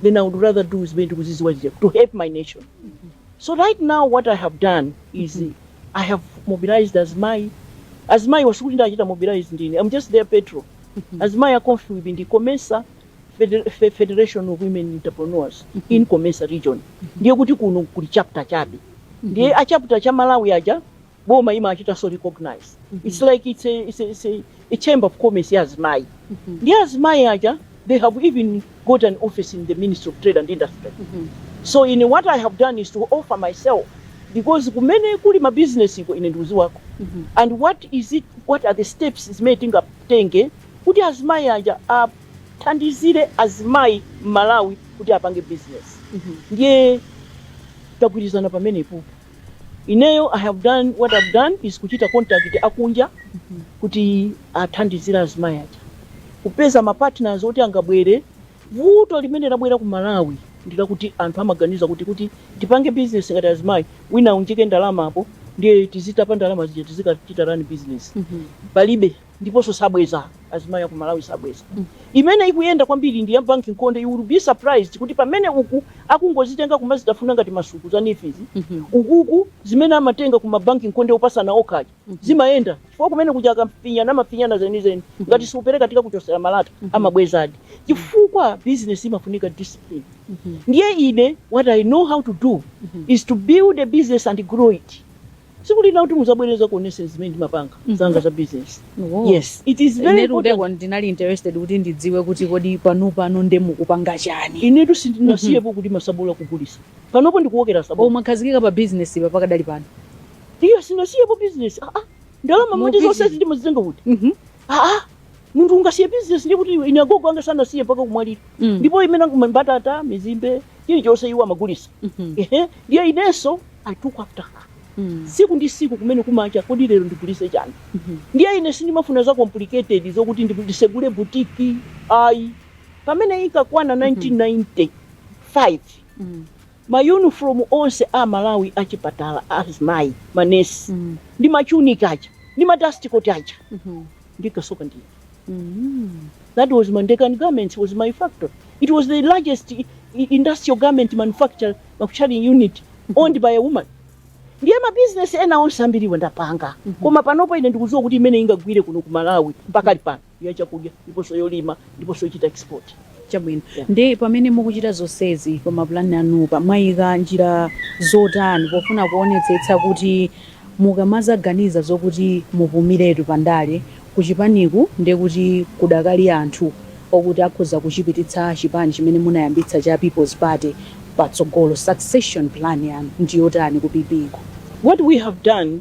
then I would rather do zimene ndikuziziwa zija to help my nation. So right now what I have done is I have mobilized azimayi. Azimayi wasikuti ndachita mobilize ndine. I'm just their patron. Azimayi a Comfwb ndi Comesa Fede- Fe- Federation of Women Entrepreneurs in Comesa region. Ndiye kuti kuno kuli chapter chabe. Ndiye a chapter cha Malawi aja boma limachitanso recognize its like its a, its a, its a, a chamber of commerce ya azimayi ndiye azimayi aja they have even got an office in the ministry of trade and industry so ine what i have done is to offer myself because kumene kuli mabizinesi iko ine ndikudziwako and what is it what are the steps zimene tingatenge kuti azimayi aja athandizire azimayi m'malawi kuti apange business ndiye tagwirizana pamenepo Ineyo I have done what I've done is kuchita contact akunja kuti athandizire azimayi aja kupeza ma partners oti angabwere. Vuto limene labwera ku Malawi ndi lakuti anthu amaganiza kuti kuti tipange business ngati azimayi wina aunjike ndalama apo ndiye tizitapa ndalama zija tizikachita run business. Palibe. ndiponso sabweza azimayi aku malawi sabweza imene ikuyenda kwambiri ndi ya bank nkonde you will be surprised kuti pamene uku akungozitenga kumazitafuna ngati masuku za nifizi ukuku zimene amatenga ku mabanki nkonde opatsana okha aja zimayenda chifukwa kumene kuja akafinyana amafinyana zenizeni ngati siupereka tikakuchotsera malata amabwezadi chifukwa business imafunika discipline ndiye ine what i know how to do is to build a business and grow it tsiku lina kuti muzabwere ndizakuonetseni zimene ndimapanga zanga za business Oh. yes it is very Inetu important ndekuti ndinali interested kuti ndidziwe kuti kodi pano pano ndiye mukupanga chani inetu sindinasiyepo kuti masabola kugulisa panopo ndikuwokera sabola umakhazikika pa business pa pakadali pano iyo sinasiyepo business ah, ah. ndalama manje Mupiti. zonsezi ndimazitenga kuti Mhm. aa munthu ungasiye business ndiye kuti iwe ine agogo anga sanasiye mpaka kumwalira Mm. ndipo chimanga mbatata mizimbe chilichonse iwo amagulisa Mhm. ehe ndiye inenso i took after her Mm. siku ndi siku kumene kukacha kodi lero ndigulise chani Mhm. ndiye ine sindimafuna za complicated zokuti ndi- ndisegule butiki ayi pamene inkakwana 1995 Mm. Ma uniform onse a Malawi a chipatala a azimayi, ma nurse, ndi ma tunic aja, ndi ma dust coat aja, ndinkasoka ndine. That was ma Dekan Garments was my factory. It was the largest industrial garment manufac-, manufacturing unit owned by a woman. Ndiye ma business ena onse ambiriwa ndapanga. Koma panopa ine ndikudziwa kuti imene ingagwire kuno ku Malawi pakali pano. ya chakudya ndiponso yolima ndiponso yochita export. Chabwino. Yeah. Ndiye pamene mukuchita zonsezi pa mapulani anupa mwayika njira zotani pofuna kuonetsetsa kuti mukamazaganiza zokuti mupumiretu pa ndale ku chipaniku ndiye kuti kudakali anthu okuti akhoza kuchipititsa chipani chimene munayambitsa cha People's Party patsogolo succession plan yanu ndi yotani ku PP ko? What we have done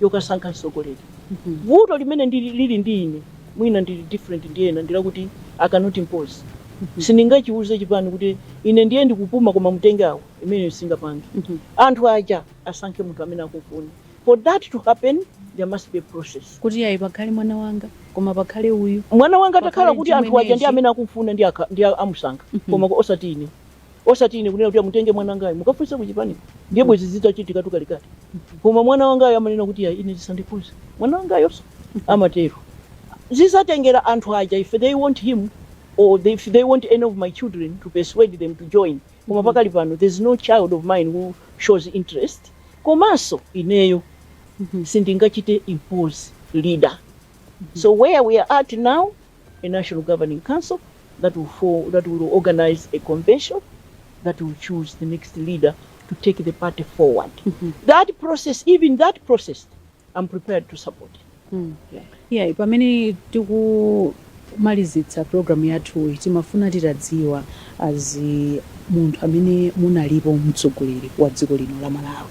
yokasankha mtsogoleri vuto limene lili ndi ine mwina ndili different ndi ena ndilakuti i cannot impose sindingachiuze chipani kuti ine ndiye ndikupuma koma mutenge awa imeneyo sindingapange anthu aja asankhe munthu amene akumfuna for that to happen there must be a process kuti ayi pakhale mwana wanga koma pakhale uyu mwana wanga Pakhale atakhala kuti anthu aja ndi amene akumfuna ndi aka- ndi a- amusankha koma osati ine osati ine kunena kuti amutenge mwana wangayo mukafunse ku chipaniko ndiye bwezi zitachitikatu kalekale koma mwana wangayo amanena kuti ayi ine zisandikhuze mwana wangayonso amatero zizatengera anthu aja if they want him or they, if they want any of my children to persuade them to join koma pakali pano there's no child of mine who shows interest komanso ineyo sindingachite impose leader so where we are at now a national governing council that will form, that will organize a convention that will choose the next leader to take the party forward. That process, even that process, I'm prepared to support. yeah pamene tikumalizitsa programu yathuyi timafuna titadziwa as munthu amene munalipo mtsogoleri wa dziko lino la malawi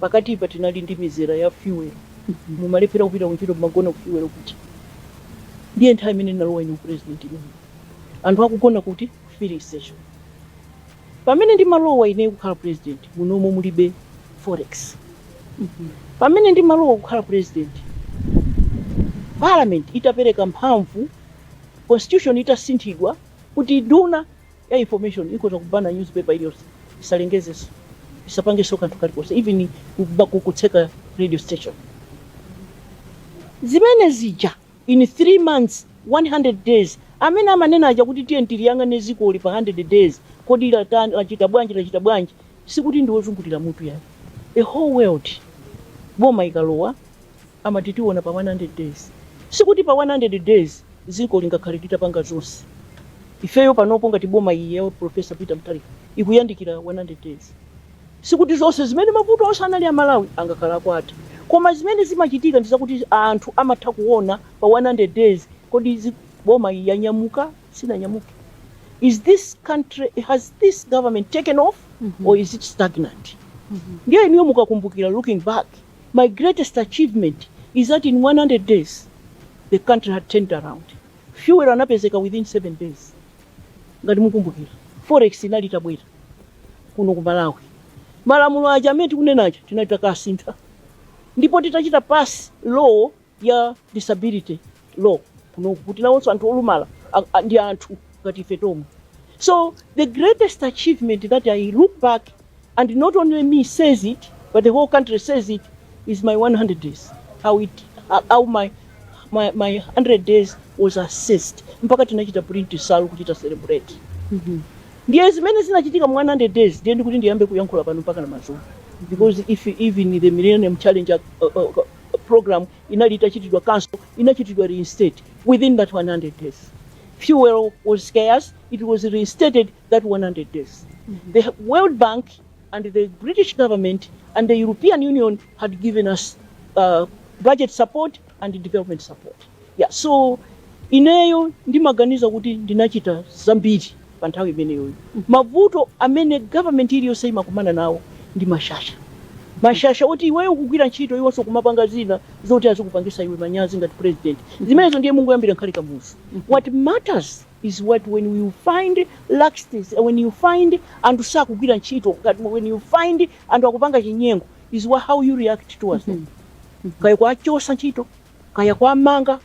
Pakatipa tinali ndi mizera ya fuel. Mumalephera kupita kuntchito mmagona ku fuel kuja. Ndiye nthawi imene ndimalowa ine u president imeneyo. Anthu akugona kuti? Ku filling station. Pamene ndimalowa ineyo kukhala president munomo mulibe forex. Pamene ndimalowa kukhala president parliament itapereka mphamvu, constitution itasinthidwa kuti nduna ya information ikhoza kubana newspaper iliyonse isalengezenso isapangenso kanthu kalikonse even kuba- ku- kutseka radio station zimene zija in 3 months 100 days amene amanena aja kuti tiye tiliyang'ane zikoli pa 100 days kodi latani lachita bwanji lachita bwanji sikuti ndi ozungulira mutu ayi a whole world boma ikalowa Amati tiona pa 100 days. Sikuti pa 100 days dziko lingakhale litapanga zonse. Ifeyo panopo ngati boma iyi ya Prof Peter Mutharika ikuyandikira 100 days. Sikuti zonse zimene mavuto onse anali a Malawi angakhale atatha. Koma zimene zimachitika ndi zakuti anthu amatha kuona pa 100 days kodi boma iyi yanyamuka? Sinanyamuke? Is this country, has this government taken off or is it stagnant? Ndiye inuyo mukakumbukira looking back. My greatest achievement is that in 100 days the country had turned around. Fuel anapezeka within 7 days. Ngati mukumbukira, forex inali itabwera kuno ku Malawi. Malamulo aja amene tikunena aja tinali takasintha. Ndipo titachita pass law ya disability law kunoku kuti nawonso anthu olumala ndi anthu ngati ife tomwe so the greatest achievement that i look back and not only me says it but the whole country says it is my 100 days my my, my 100 days was assessed mpaka tinachita print salu kuchita celebrate mm -hmm. ndiye zimene zinachitika mu 100 days ndiye ndikuti ndiyambe kuyankhula pano mpaka mawa because if even the millennium challenge uh, uh, Iyo, programu inali itachitidwa kanso, inachitidwa reinstate within that 100 days. Fuel was scarce, it was reinstated that 100 days. The World Bank and the British government and the European Union had given us uh, budget support and development support. Yeah, so ineyo ndimaganiza kuti ndinachita zambiri. Pa nthawi imeneyoyo mavuto amene government iliyonse imakumana nawo ndi mashasha. Mashasha oti iweyo ukugwira ntchito iwonso nkumapanga zina zoti azikupangisa iwe manyazi ngati president. Zimenezo ndiye mungoyambira kale Kamuzu. What matters is what when you find laxties and when you find anthu sakugwira ntchito ngati when you find anthu akupanga chinyengo is how you react towards them. Kaya kuwachosa ntchito. kaya kuwamanga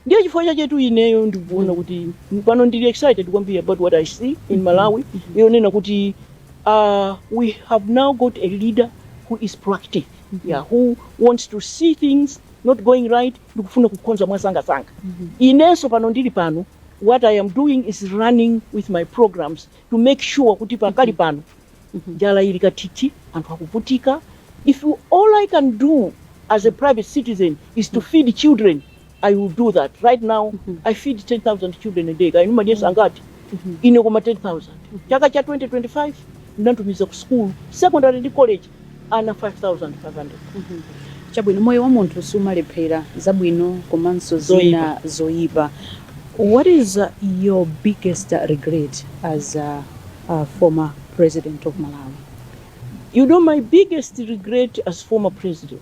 ndiye chifukwa chachetu ineyo ndikuona kuti pano ndili excited kwambiri about what i see in malawi yonena kuti uh, we have now got a leader who is proactive yeah, who wants to see things not going right nkufuna kukonza mwasangasanga inenso pano ndili pano what i am doing is running with my programs to make sure kuti pakali pano njala ili kathithi, anthu akuvutika, if all I can do as a private citizen is to feed children, I will do that. Right now, I feed 10,000 children a day. Kaya inu mumadyesa angati? Ine koma 10,000. Chaka cha 2025, ndinatumiza ku school, secondary ndi college, ana 5,500. Chabwino, moyo wa munthu siumalephera, zabwino komanso zina zoyipa. What is your biggest regret as a, a former president of Malawi? You know my biggest regret as former president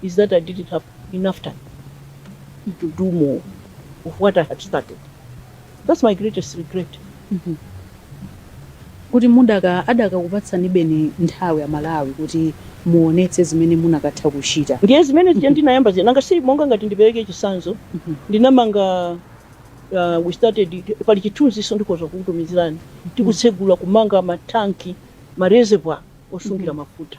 is that I didn't have enough time to do more of what I had started. That's my greatest regret. kuti mwina adakakupatsani beni nthawi Amalawi kuti muonetse zimene mukanatha kuchita ndiye zimene zija ndinayamba zina nanga si monga ngati ndipereke chisanzo Mhm. ndinamanga uh, we started pali chithunziso ndikhoza kukutumizirani tikutsegula kumanga mathanki ma reservoir osungira mafuta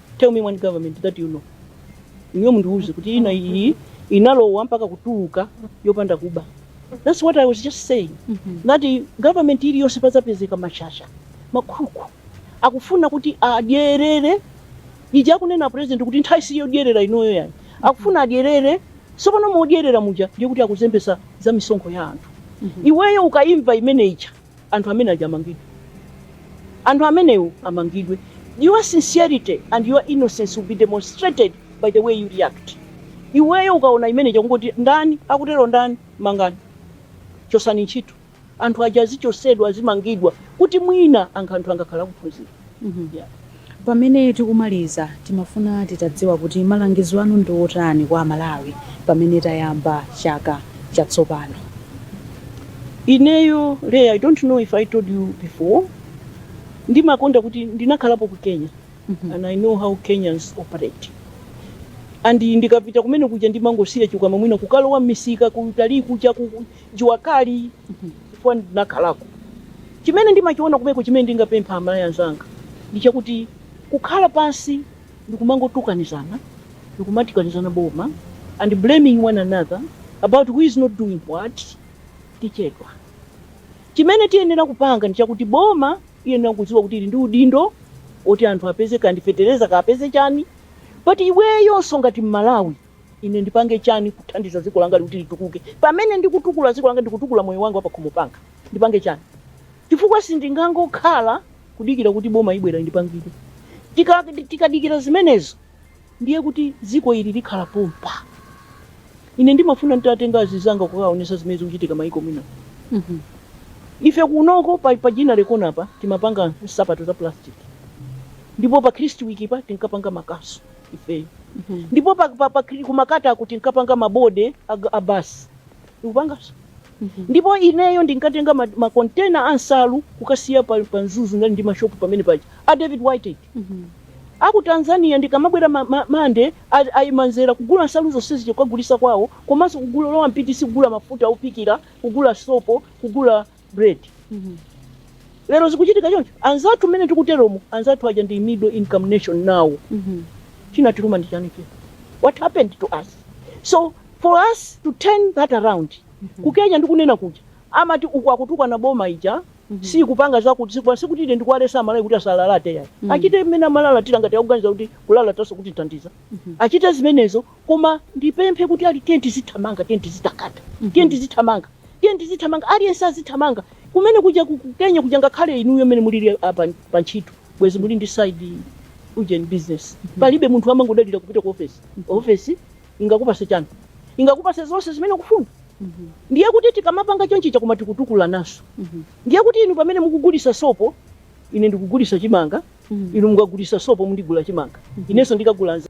tell me one government that you know inuyo mundiuze kuti ina yake inalowa mpaka kutuluka yopanda kuba that's what i was just saying that i- government iliyonse pazapezeka mashasha makhuku akufuna kuti adyerere ija akunena president kuti nthawi si yodyerera inoyo ayi akufuna adyerere sopano modyerera muja ndiye kuti akuzembesa za misonkho ya anthu iweyo ukaimva imene ija anthu amene aja amangidwe anthu amenewo amangidwe your sincerity and your innocence will be demonstrated by the way you react iweyo ukaona imene ija kungoti ndani akutero ndani mangani chosani ntchito anthu aja azichosedwa azimangidwa kuti mwina anthu anthu angakhala akuphunzira Mhm. Yeah. pamene tikumaliza timafuna titadziwa kuti malangizo anu ndi otani kwa amalawi pamene tayamba chaka chatsopano ineyo leya i don't know if i told you before ndimakonda kuti ndinakhalapo ku kenya Mhm. and i know how kenyans operate and ndikapita kumene kuja ndimangosiya chikwama mwina kukalowa m'misika kuti ndi kuchita ku- Jua kali chifukwa ndinakhalako. Chimene ndimachiona komweko chimene ndingapemphe amalawi anzanga ndi chakuti kukhala pansi ndikumangotukanizana ndikumatukana boma and blaming one another about who is not doing what tichedwa. Chimene tiyenera kupanga ndi chakuti boma liyenera kudziwa kuti lili ndi udindo oti anthu apeze kaya ndi fetereza kaya apeze chani but iweyonso ngati mmalawi Ine ndipange chani kuthandiza dziko langa ili kuti litukuke pamene ndikutukula dziko langa ndikutukula moyo wanga wapakhomo panga ndipange chani chifukwa sindingangokhala kudikira kuti boma libwera lindipangire tika tikadikira zimenezo ndiye kuti dziko ili likhala pompa ine ndimafuna nditatenga anzanga kukaonesa zimene zikuchitika maiko enawa ife kunoko pa, pa ginnery corner pa timapanga nsapato za plastic ndipo pa kristwick pa tinkapanga makasu ife ndipo pa, pa, pa, ku makatako tinkapanga mabode a- a basi ndikupanganso ndipo ineyo ndinkatenga ma- makontena a nsalu kukasiya pa, pa mzuzu anali ndi mashopu pamene paja a david whitehead aku tanzania nkumabwera ma- ma- amayi a- amadzera kugula nsalu zonsezi kukagulisa kwawo komanso kulowa m'PTC kugula mafuta ophikira kugula sopo kugula bread lero zikuchitika choncho anzathu mmene tikuteromo anzathu aja ndi middle income nation nawo chinatiluma ndi chani chino what happened to us so for us to turn that around ku kenya ndikunena kuja amati uku akutukwana boma ija sikupanga zakuti sikupanga zakuti ine sindikuwalesa amalawi kuti asalalate ayi achite mmene amalalatira ngati akuganiza kuti kulalataso kutithandiza achite zimenezo Koma ndipemphe kuti aliyense tiyeni tizithamanga, tiyeni tizitakata, tiyeni tizithamanga, tiyeni tizithamanga, aliyense azithamanga kumene kuja ku ku Kenya kuja, ngakhale inuyo mmene mulili ah, pa pa ntchito bwezi muli ndi side ujeni business, palibe munthu amangodalira kupita ku ofesi. Ofesi ingakupase chani? Singakupase zonse zimene ukufuna. Ndiye kuti tikamapanga chonchija koma tikutukulananso, ndiye kuti inu pamene mukugulisa sopo, ine ndikugulisa chimanga, inu mukagulisa sopo, mundigula chimanga, inenso ndikagula za.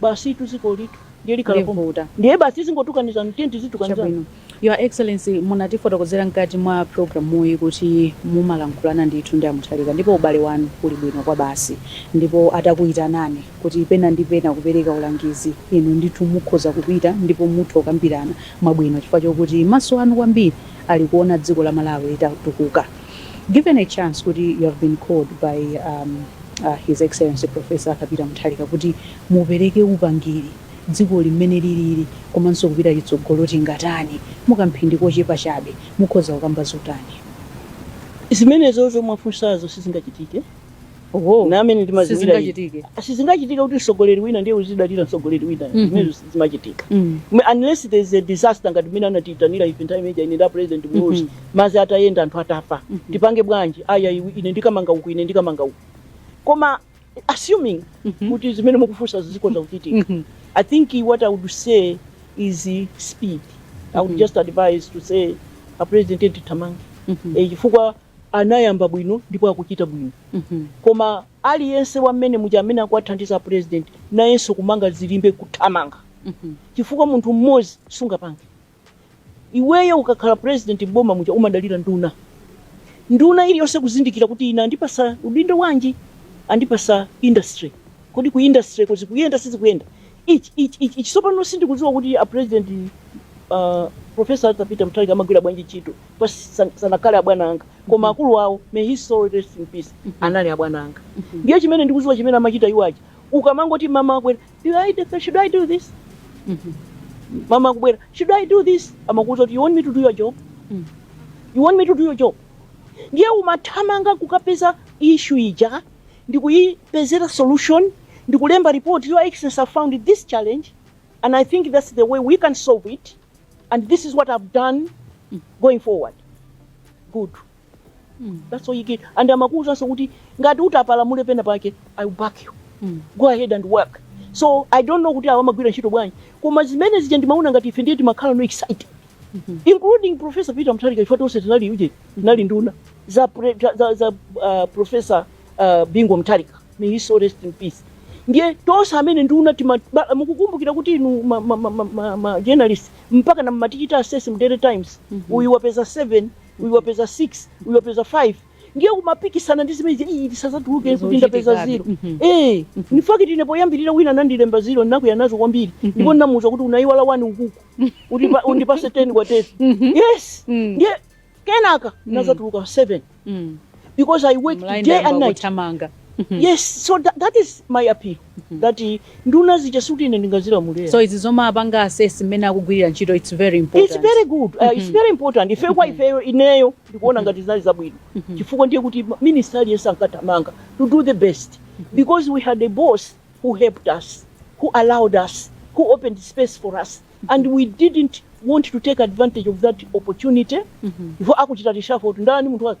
Basitu dzikolitu ndiye likhala pompo. Livuta. Ndiye basi tizingotukanizana, tiye tizitukanizana. Chabwino. Your Excellency, munatifotokozera mkati mwa programuyi kuti mumalankhulana ndithu ndi a Mutharika ndipo ubale wanu uli bwino kwabasi. Ndipo atakuyitanani kuti pena ndi pena kupereka ulangizi, inu ndithu mukhoza kupita ndipo mutha kukambirana mwabwino chifukwa chokuti maso anu kwambiri ali kuona dziko la Malawi litatukuka. Given a chance kuti you have been called by um, a His Excellency Prof. Arthur Peter Mutharika kuti mupereke upangiri dzikoli mmene liliri komanso kupita chitsogolo tingatani mukamphindi kochepa chabe mukhoza kukamba zotani? Zimenezozo mwafunsazo sizingachitike. Oho, Ine amene ndimaziwira ine. sizingachitike. Sizingachitike kuti mtsogoleri wina ndiye uzidalira mtsogoleri wina. Mhm. Zimenezo sizimachitika. Mm. Unless there is a disaster ngati mmene anatiitanira ife nthawi imene ine nda president Muluzi. Mhm. madzi atayenda anthu atafa Mhm. tipange bwanji aya iwe- ine ndikamanga uku ine ndikamanga uku koma assuming Mhm. kuti zimene mukufunsa zikhoza kuchitika Mhm. i think what i would say is uh, speed i would Mhm. just advise to say a president tithamange Mhm. Eh, chifukwa anayamba bwino ndipo akuchita bwino Mhm. koma aliyense wa mmenemuja amene akuwathandiza a president nayenso kumanga zilimbe kuthamanga Mhm. chifukwa munthu mmodzi sungapange Iweyo ukakhala president m'boma muja umadalira nduna. Nduna iliyonse kuzindikira kuti ine andipasa udindo wanji, andipasa industry. Kodi ku industry ko zikuyenda sizikuyenda? Ichi, ichi, ichi, ichi. Sopano sindikuziwa kuti a president uh, Professor Arthur Peter Mutharika amagwira bwanji ntchito pa san- sanakhale abwana anga koma akulu awo may his soul rest in peace anali abwana anga ndiye chimene ndikuziwa chimene amachita iwo aja ukamangoti mmawa akwera Do I do, should I do this? Mama akubwera, should I do this? Amakuuza kuti you want me to do your job? You want me to do your job? Ndiye umathamanga kukapeza issue ija ndi kuyipezera solution ndi kulemba report your excellency have found this challenge and I think that's the way we can solve it and this is what I've done going forward. Good. mm. that's all you get and amakuuzanso kuti ngati utapalamule pena pake i will back you mm. go ahead and work so i don't know kuti awa amagwira ntchito bwanji koma zimene zija ndimaona ngati ife ndiye timakhala so excited mm -hmm. including professor peter mutharika ife tonse tinali uje tinali nduna za, pre, za, za uh, professor uh, bingu mutharika may his soul rest in peace ndiye tonse amene nduna mukukumbukira kuti inu ma, ma, ma, ma, ma, ma journalist mpaka munkatichita assess m'daily times mm -hmm. uyu wapeza 7 uyu wapeza 6 uyu wapeza 5 ndiye kumapikisana ndi zimenezija, "Ii, tisadzatuluke kuti ndapeza ziro Mhm. Eh, in fact ine poyambirira wina anandilemba ziro ndinakwiya nazo kwambiri ndipo ndinamuuza kuti unayiwala wani ukuku undipatse 10 kwa 10 yes Mm. ndiye kenaka ndinadzatuluka 7 Mm. because i worked day and night yes so that, that is my appeal that nduna zija sikuti ine ndingazilamulira so izi zomwe apanga assess mmene akugwirira ntchito its very good, it's very important. Ife kwa ifeyo ineyo ndikuona ngati zinali zabwino. Chifukwa ndiye kuti minister aliyense ankathamanga to do the best because we had a boss who helped us, who allowed us, who opened space for us and we didn't want to take advantage of that opportunity. Before akuchita reshuffle kuti ndani munthu wake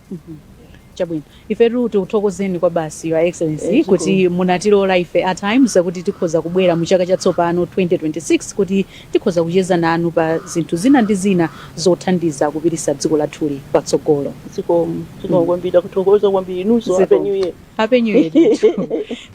Chabwino, ifetu tikuthokozeni kwabasi Your Excellency Eh, zikomo. kuti munatilola ife a Times kuti tikhoza kubwera mu chaka chatsopano 2026 kuti tikhoza kucheza nanu pa zinthu zina ndi zina zothandiza kupititsa dziko lathuli patsogolo. Zikomo, zikomo Mm. kwambiri takuthokoza kwambiri inunso Zikomo. happy new year. Happy New Year. ndithu.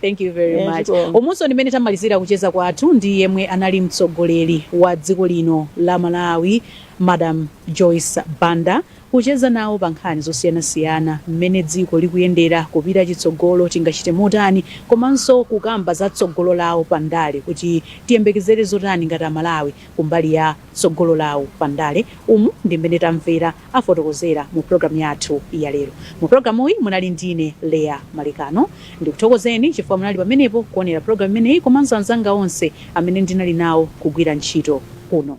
Thank you very Eh, much. zikomo. Umunso ndi mmene tamalizira kucheza kwathu ndi yemwe anali mtsogoleri wa dziko lino la Malawi, Madam Joyce Banda. Kucheza nawo pa nkhani zosiyanasiyana, mmene dziko likuyendera, kupita chitsogolo tingachite motani, komanso kukamba za tsogolo lawo pa ndale kuti tiyembekezere zotani ngati a Malawi kumbali ya tsogolo lawo pa ndale, umu ndi mmene tamvera afotokozera mu pulogalamu yathu ya lero. Mu pulogalamuyi munali ndine Leah Malekano. Ndikuthokozeni chifukwa munali pamenepo kuonera pulogalamu imeneyi komanso anzanga onse amene ndinali nawo kugwira ntchito kuno.